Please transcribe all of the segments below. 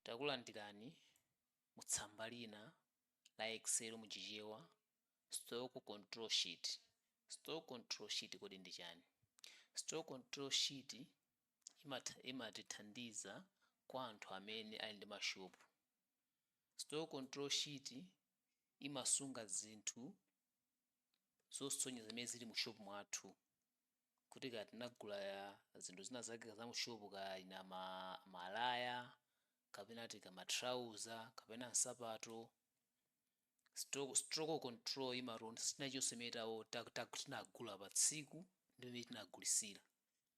Takulandirani mu tsamba lina la Excel mu Chichewa, Stock Control Sheet. Stock Control Sheet kodi ndi chani? Stock Control Sheet imatithandiza kwa anthu amene ali ndi mashopu. Stock Control Sheet imasunga zinthu zosonyeza zimene zili mu shopu mwathu. kuti kaya tinagula zinthu zina zake za mu shopu kaya ina ma malaya kapena ma trouser kapena nsapato stock, stock control imalonda chinthu chilichonse chimene tawo tinagula pa tsiku ndi imene tinagulisira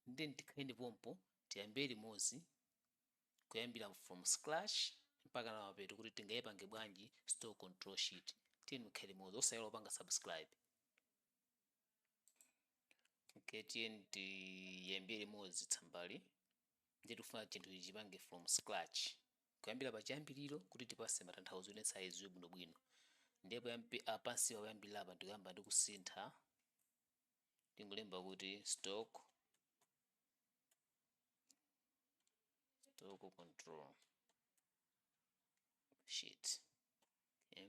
ndiye tikhale pompo tiyambire limodzi kuyambira from scratch mpaka na mapeto kuti tingayipange bwanji stock control sheet tiyeni tikhale limodzi osayiwala kupanga subscribe okay tiyeni tiyambire limodzi tsambali ndiye tikufuna chinthuchi tichipange from scratch kuyambira pa chiyambiriro kuti tipase matanthauzo onse adziwe bwinobwino ndipo yambi- ah, pansi poyambirira apa ndikuyamba ndi kusintha tingolemba kuti stock stock control sheet okay.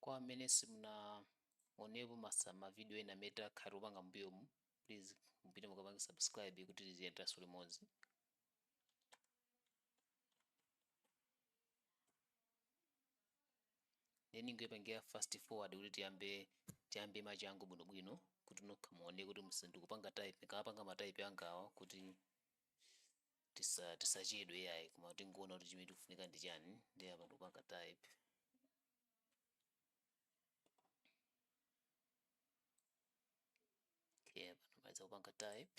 Kwa amene simunaonepo masa ma video ena amene takhala tikupanga mmbuyomu please mupite mukapange subscribe kuti tiziyenderanso limodzi. Nde ndingoipangira fast forward kuti tiyambe tiyambe machangu bwinobwino kuti nokha muone kuti msi ndikupanga type ndikamapanga ma type angowa kuti tisa tisachedwe yayi koma tingoona kuti chimene tikufunika ndi chani ndiye apa ndikupanga type okay apa ndamaliza kupanga type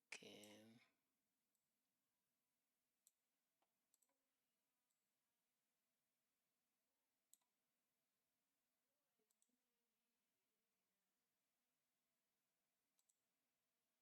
okay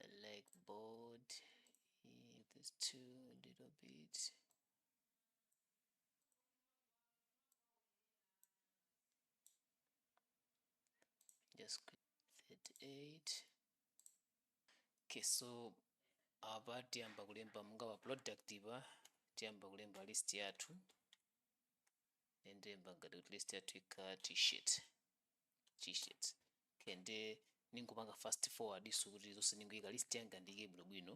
I like bold eh, this too a little bit just click 38 okay so apa tiyamba kulemba monga pa product pa tiyamba kulemba list yathu nde ndilemba ngati kuti list yathu ikhala t-shirt t-shirts okay nde ningopanga fast forward so kuti zonse ningoyika list yanga ndiyike bwinobwino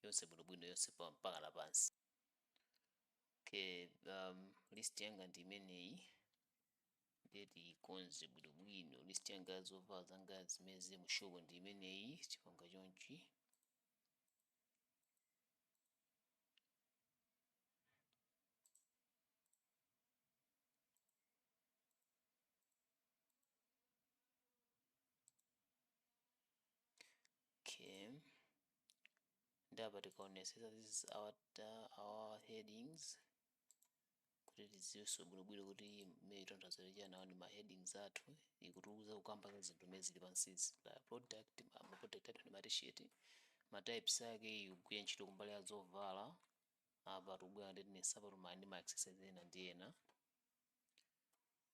yonse bwinobwino yonse pa- mpaka la pansi okay um, list yanga ndi imeneyi ndiye tiyikonze bwinobwino list yanga ya zovala zanga zimene zili mu shop ndi imeneyi tipanga chonchi okay nde apa tikaonesesa this is our, uh, our headings kuti tidziwenso bwinobwino kuti mmene tanthauzo lija nawo ndi ma headings athu ikutiuza kukamba za zinthu zimene zili pansizi la product ma ma product athu ndi ma t-shirt ma types ake ikugwira ntchito kumbali ya zovala apa tikubwera ndi nsapato ma ndi ma accessories ena ndi ena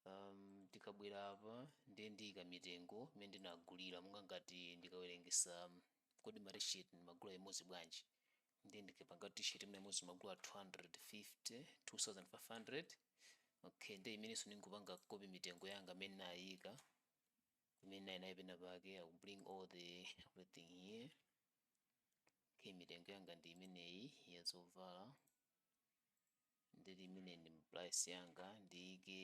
Am, tikabwera apa ndiye ndiyika mitengo imene ndinagulira monga ngati ndikawerengesa am, kodi ma t-shirt ndimagula imodzi bwanji ndiye ndikapanga kuti t-shirt mwina imodzi ndimagula 250 2500 okay ndiye imenenso ndingopanga copy mitengo yanga imene ndinayika imene ndinali nayo pena pake i will bring all the everything here okay mitengo yanga ndi imeneyi ya zovala ndiye imene ndi price yanga ndiike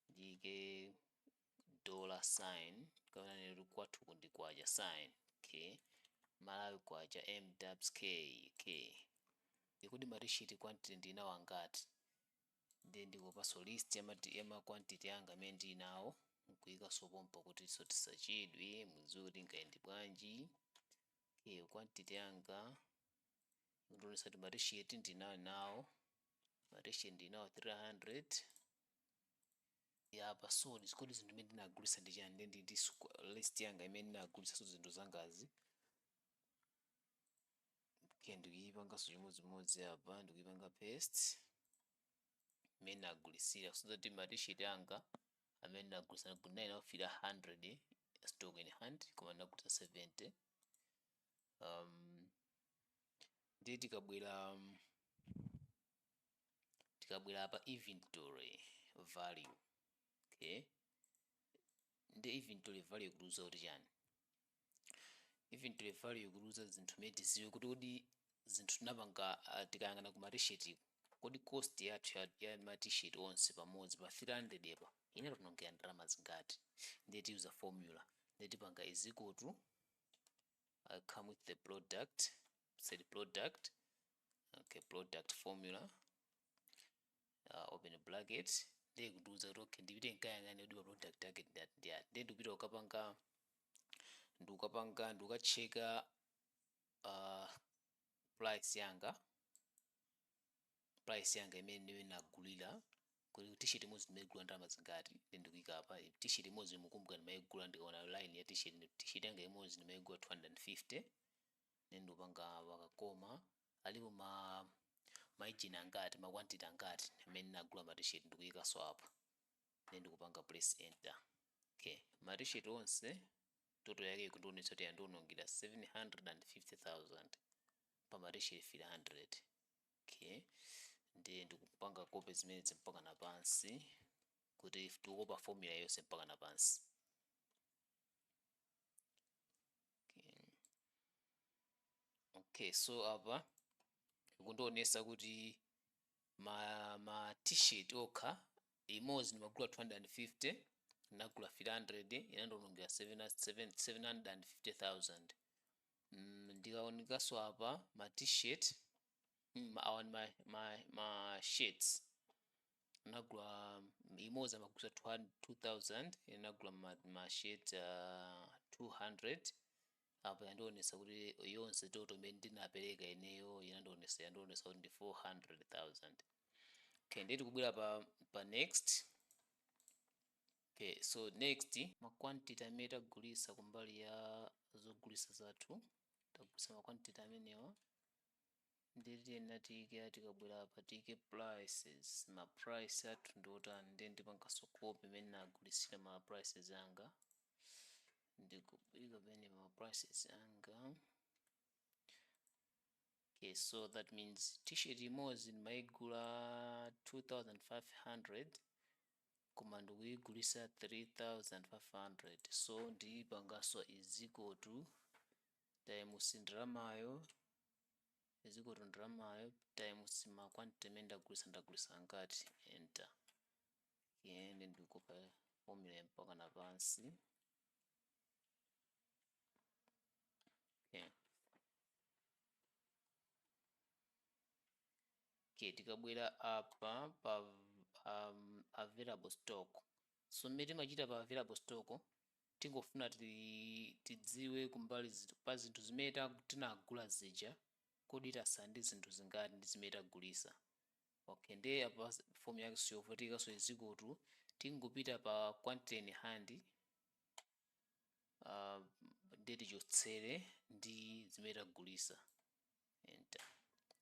ndiike dollar sign kapena kuti kwathu kuno ndi kwacha sign okay malawi kwacha MWK okay kodi ma t-shirt quantity ndinawo angati nde ndikopanso list ya mati- ya ma quantity anga amene ndili nawo nkuika so pompa kuti so tisachedwe mudziwe kuti ingayende bwanji okay quantity yanga ndionesa kuti ma t-shirt ndinali nawo ma t-shirt ndinawo 300 apa so kodi zinthu zimene ndinagulisa ndi chani ndi ndi ndi squ- list yanga imene ndinagulisa so zinthu zangazi okay ndikuyipanganso chimodzimodzi apa ndikuyipanga paste imene nagulisira so that ma t-shirt anga amene nagulisa ndinali nawo 300 stock in hand koma ndinagulisa 70 um, ndiye tikabwera um, tikabwera apa inventory value okay nde inventory value ikutiuza kuti chani inventory value ikutiuza zinthu zimene tiziwe kuti kodi zinthu tinapanga uh, tikayang'ana ku matisheti kodi cost yathu ya, ya matisheti onse pamodzi pa 300 apa inationongera ndalama zingati ndiye tiyuza formula ndiye tipanga is equal to Equal to come with the product said product okay product formula uh, open bracket ndiye kundiuza kuti okay ndipite nkayang'ane kuti pa product yake ndi iti ndi iti ndiye ndikupita kukapanga ndikukapanga ndikukacheka uh, price yanga price yanga imene ndinagulira kuti t-shirt imodzi ndimaigula ndalama zingati then ndikuika apa eh, t-shirt imodzi mukumbuka ndimaigula ndikaona line ya t-shirt ndi- t-shirt yanga imodzi ndimaigula 250 then ndikupanga pa ka comma alipo ma maijini angati makwantiti angati amene nagula ma t-shirt ndikuikanso apa then ndikupanga press enter okay ma t-shirt onse total yake ikundionetsa kuti yandionongera 750000 pa ma t-shirt 300 okay ndiye ndikupanga copy zimenezi mpaka na pansi kuti tikukopa formula yonse mpaka na pansi okay. okay so apa ikundionesa kuti ma ma t-shirt okha imodzi ndimagula 250 nagula 300 inandionongera 750,000 ndikaonekanso apa ma t-shirt awa ndi ma, ma, ma shirts nagula imodzi amagulisa 2000 inagula ma, ma shirt uh, 200 apa yandionesa kuti yonse total imene ndinapereka ineyo inandionesa yandionesa kuti ndi 400000 okay nde tikubwera pa, pa next Okay, so next ma quantity amene tagulisa kumbali ya zogulisa zathu tagulisa ma quantity amenewa ndiye tiyenera tiike a tikabwera apa tiike prices ma price athu ndi otani ndiye ndipangaso copy imene nagulisira ma prices anga ndikuika pamene ma prices anga okay so that means t-shirt imodzi ndimaigula 2500 koma ndikuyigulisa 3500 so ndiyipangaso is equal to times ndalamayo is equal to ndalamayo times ma quantity amene ndagulisa ndagulisa angati enter okay then ndikukopa formula mpaka na pansi okay. okay tikabwera apa pa um, available stock so mmene timachita pa available stock tingofuna ti- tidziwe kumbali zi- pa zinthu zimene ta- tinagula zija kodi tasala ndi zinthu zingati ndi zimene tagulisa okay ndiye apa s- form yake siyovutika so is equal to tingopita pa quantity in hand uh, ndiye tichotsere ndi zimene tagulisa enter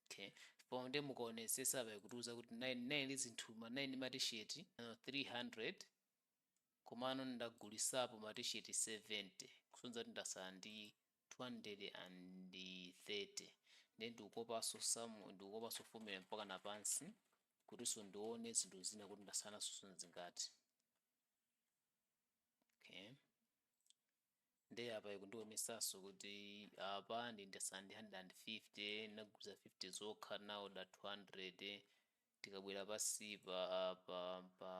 okay po nde mukaonesesa apa ikutiuza kuti 9 9 li zinthu ma ndi matisheti uh, 300 komano ndagulisapo matisheti 70 kusonyeza kuti ndasala ndi 230 nde ndikukopanso samu ndikukopanso formula mpaka na pansi kutinso ndione zinthu zina kuti ndasala nazo zingati okay nde apa ikundiwonesaso kuti apa ndi ndasala ndi 150 nagulisa 50 zokha naoda 200 tikabwera pansipa apa pa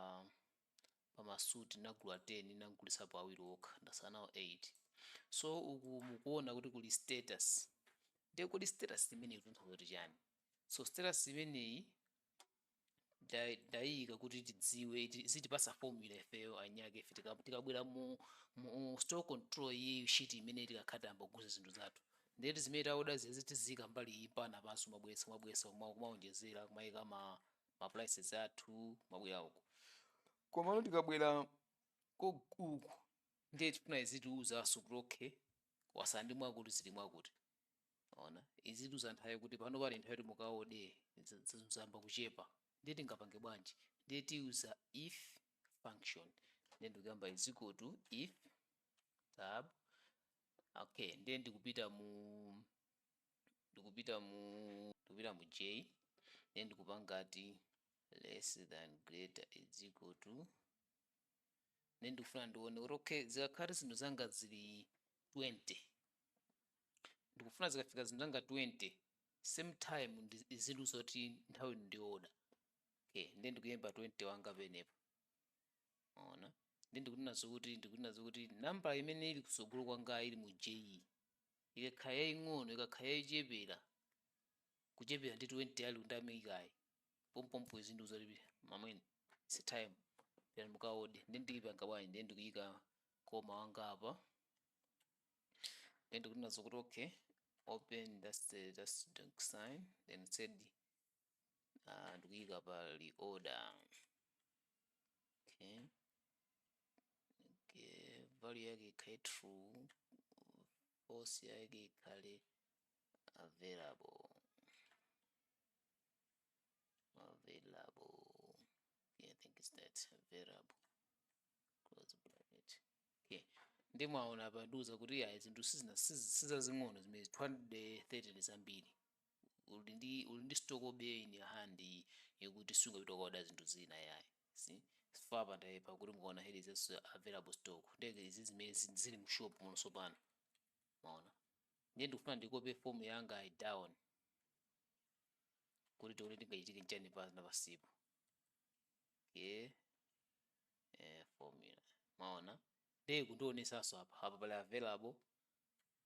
pamasuti nagula 10 nagulisapo awiri okha ndasala nawo 8 so uku mukuona kuti kuli status nde kodi status imeneyi ikutanthauza kuti chani so status imeneyi nda- ndayiyika kuti tidziwe iti- izitipasa formula ifeyo enyake ife tika- tikabwera mu mu store control iyi sheet imene tikakhala tayamba kuguza zinthu zathu ndeti zimene taoda zizi tiziika mbali iyi pana penanso mabwesa mabwesa kuma- kumaonjezera kumayika ma ma prices athu mabwera uku komano tikabwera ko- uku ndiye tifuna izitiuzanso kuti okay wasala ndi mwakuti zili mwakuti ona izitiuza nthawi kuti pano pali nthawi kuti mukaode za- za- zayamba kuchepa ndiye tingapange bwanji ndiye tiyuza if function ndiye ndikuyamba is equal to if tab okay ndiye ndikupita mu ndikupita mu ndikupita mu j ndiye ndikupanga ti less than greater is equal to ndiye ndikufuna ndione kuti okay zikakhala zinthu zanga zili 20 ndikufuna zikafika zinthu zanga 20 same time izindiuza kuti nthawi ndiyoda okay ndiye ndikulemba 20 wanga pamenepo ona ndiye ndikunenanso kuti ndikunenanso kuti nambala imene ili kusogolo kwanga ili mu j ikakhala yaying'ono ikakhala yochepera kuchepera ndi 20 yali undamikayi pompompo izindiuza kuti mamwene si time pera mukaode ndiye ndikupanga bwanji ndiye ndikuyika comma wanga apa then ndikunena zokuti okay open that's the that's the sign then it said uh, ndikuyika pa reorder okay okay value yake ikhale true false yake ikhale available available yeah, i think it's that available close bracket okay nde mwaona apa yatiuza kuti ayi zinthu sizina siz- sizazing'ono zimene 230 ndi zambiri uli ndi uli ndi stock obey in your hand iyi yokuti sungapita kuoda zinthu zina yayi see if apa ndiye apa kuti mukaona here is also available stock ndiye izi zimene zi- zili mu shop muno sopano maona ndiye ndifuna ndikope formula yanga iyi down kuti tione chingachitike nchani pa na pansipo okay eh, formula maona ndiye kundionesanso apa apa pali available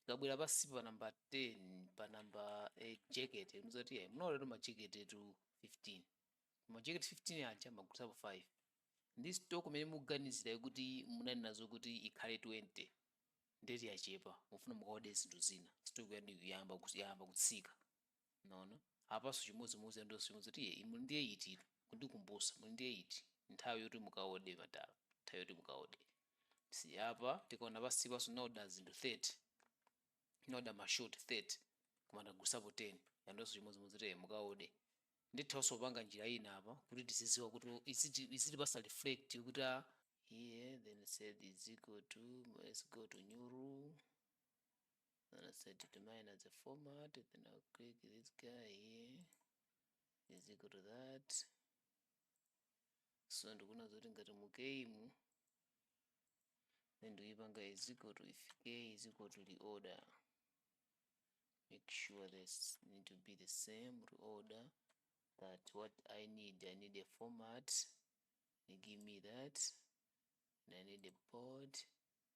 tikabwera pansi pa namba 10 pa namba eh, jacket ndi zoti eh, munaodatu majeketetu 15 majekete 15 aja mwagulitsapo 5 ndi stock imene muganizira kuti munali nazo kuti ikhale 20 nde kuti yachepa mufuna mukaode zinthu zina stock yanu yayamba kuti- yayamba kutsika mwaona apanso chimodzimodzi yandiuzanso chimodzi kuti inu muli ndiye iti inu kundikumbusa muli ndiye iti nthawi yoti mukaode madala nthawi yoti mukaode si apa tikaona pansi panso naoda zinthu 30 naoda mashoti 30 koma ndagulitsapo 10 yandiuzanso chimodzimodzi kuti mukaode ndithanso kupanga njira ina apa kuti tizidziwa kuti iziti izitipatsa reflect kuti ah, here then said is equal to let's go to new rule then I said to minor the format then I'll click this guy here is equal to that so ndikuona zoti ngati mu k mu then ndikuipanga is equal to if k is equal to the order make sure this need to be the same to order that what I need I need a format they give me that and I need a port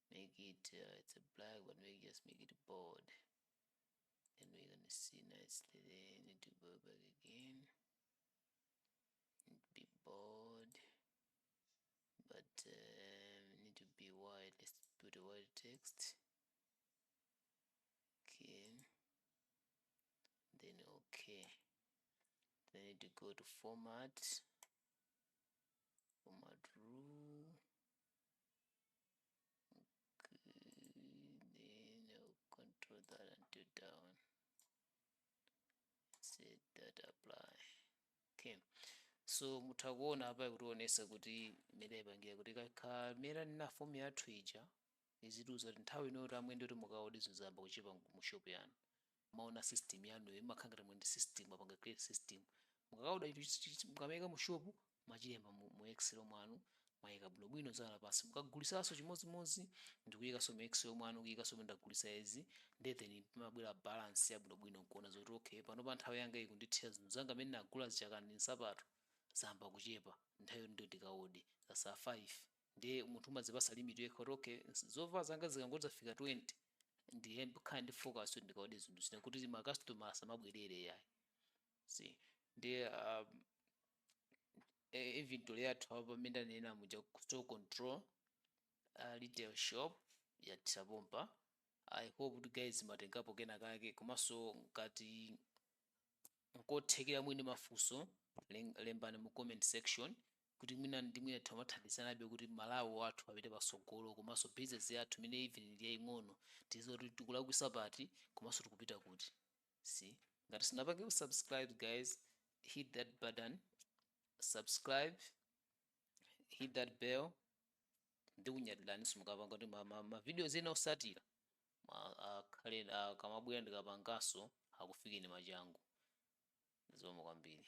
make it uh, it's a black but we just make it bold then we're gonna see nicely there I need to go back again need to be bold but um, need to be wide let's put a wide text okay then okay then I need to go to format format rule Okay, then I'll control that until down. Set at apply. Okay. so mutha kuona apa ikutionetsa kuti imene ipangira kuti kameneka ndiye formula yathu ija izitiuza kuti nthawi ino kuti amwene kuti mukaode zinthu zayamba kuchepa mu shop yanu maona system yanuyo imakhala ngati muli ndi system mwapanga create system mukakaoda chinthu chi- chi- chi- mukamaika mu shop mwachilemba mu, mu excel mwanu mwaika bwinobwino zadza pansi mukagulisanso chimodzimodzi ndikuikanso mu excel mwanu kuikanso mu ndagulitsa izi nde then pamabwera balance yabwinobwino nkuona zoti okay panopa nthawi yanga ikundithera zinthu zanga zimene nagula zichakani ndi nsapato zayamba kuchepa nthawi yoti ndikaode zatsala 5 nde munthu umadzipasa limit yekha kuti okay zovala zanga zikangoti zafika 20 ndikhale ndi focus kuti ndikaode zinthu zina kuti ma customer asamabwerere yayi si ndiye um, e- inventory yathu apa mmene ndanena muja kuti stock control uh, retail shop yathera pompa i hope kuti guys mwatengapo kena kake komanso ngati nkotheka muli ndi mafunso lem- lembani mu comment section kuti mwina ndi mwina timathandizanabe kuti Malawi wathu apite patsogolo komanso business yathu imene even ili yaing'ono tizidziwa kuti tikulakwisa pati komanso tikupita kuti so ngati sunapangepo subscribe guys hit that button subscribe hit that bell ndikunyadiraninso mukapanga kuti ma, ma, ma videos ena osatira ma- akhale akamabwera ndikapanganso akufikeni machangu zikomo kwambiri